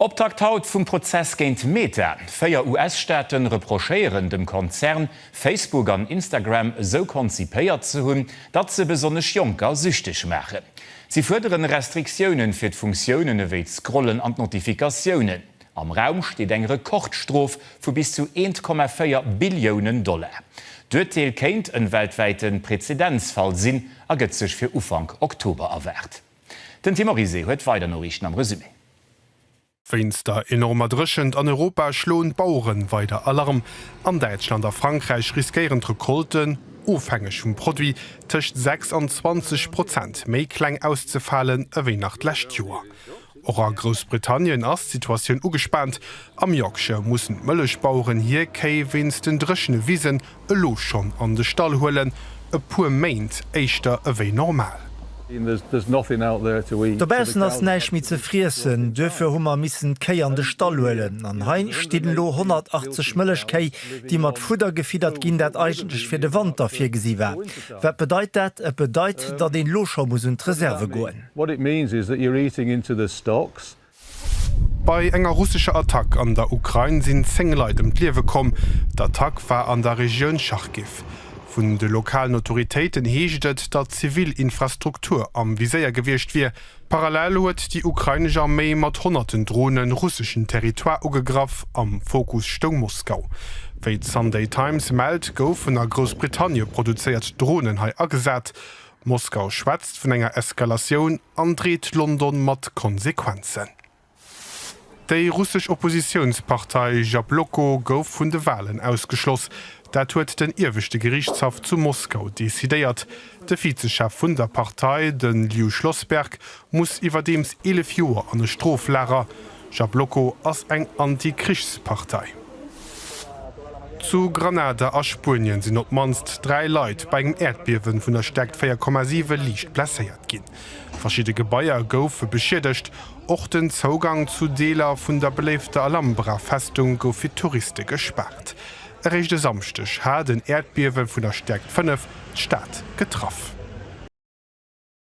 Optakt haut vum Prozess géint Meta. Véier US-Staate reprochéieren dem Konzern, Facebook an Instagram esou konzipéiert ze hunn, datt se besonnesch Jonker süchteg maachen. Si fuerdere Restriktioune fir d'Funktiounen ewéi d'Scrollen an d'Notifikatiounen. Am Raum steet eng Rekordstrof vu bis zu 1,4 Billiounen Dollar. D'Urteel kéint en weltwäite Präzedenzfall sinn a gëtt sech fir Ufank Oktober erwaart. Den Tim Oryse huet weider Noriichten am Resumé. Wéinst der enormer Dréchent an Europa schloen d'Baueren weider Alarm. An Däitschland a Frankräich riskéieren d'Recolten, ofhängeg vum Produit, tëscht 6 an 20 Prozent méi kleng auszefalen ewéi nach d'lescht Joer. Och a Groussbritannien ass d'Situatioun ugespaant. Am Yorkshire mussen d'Mëllechbaueren hir Kéi wéinst den dréchene Wisen elo schonn an de Stall huelen, e puer Méint éischter ewéi normal. Dobaussen ass näischt méi ze friessen, duerfir hu mer missen d'Kéi an de Stall huelen an hei stinn elo 180 Mëllechkéi, déi mat Fudder gefiddert ginn, dat eigentlech fir de Wanter virgesi war. Wat bedeit dat? Et bedeit, datt een elo scho muss un d'Reserve goen. Bei enger russescher Attack an der Ukrain sinn 10 Leit ëm d'Liewe komm. D'Attack war an der Regioun Charkiw. Vun de lokalen Autoritéiten heescht et, datt zivil Infrastruktur am Viséier gewiescht wier. Parallel huet déi ukrainesch Arméi mat honnerten Drone russeschen Territoire ugegraff. Am Fokus stoung Moskau. Wéi d'Sunday Times mellt, goufen a Groussbritannie produzéiert Dronen hei agesat. Moskau schwätzt vun enger Eskalatioun an dreet London mat Konsequenzen. Déi russesch Oppositiounspartei Jabloko gouf vun de Walen ausgeschloss. Dat huet den ieweschte Geriichtshaff zu Moskau decidéiert. De Vize-Chef vun der Partei, de Liu Schlossberg, muss iwwerdeems 11 Joer an e Stroflager. Jabloko ass eng Anti-Krichs-Partei. Zu Granada a Spuenien sinn op d'mannst dräi Leit bei engem Äerdbiewen vun der Stäerkt 4,7 liicht blesséiert ginn. Verschidde Gebaier goufe beschiedegt. Och den Zougang zu Deeler vun der beléifter Alhambra-Festung gouf fir Touriste gespaart. Eréischt e Samschdeg hat en Äerdbiewe vun der Stäerkt 5 d'Stad getraff.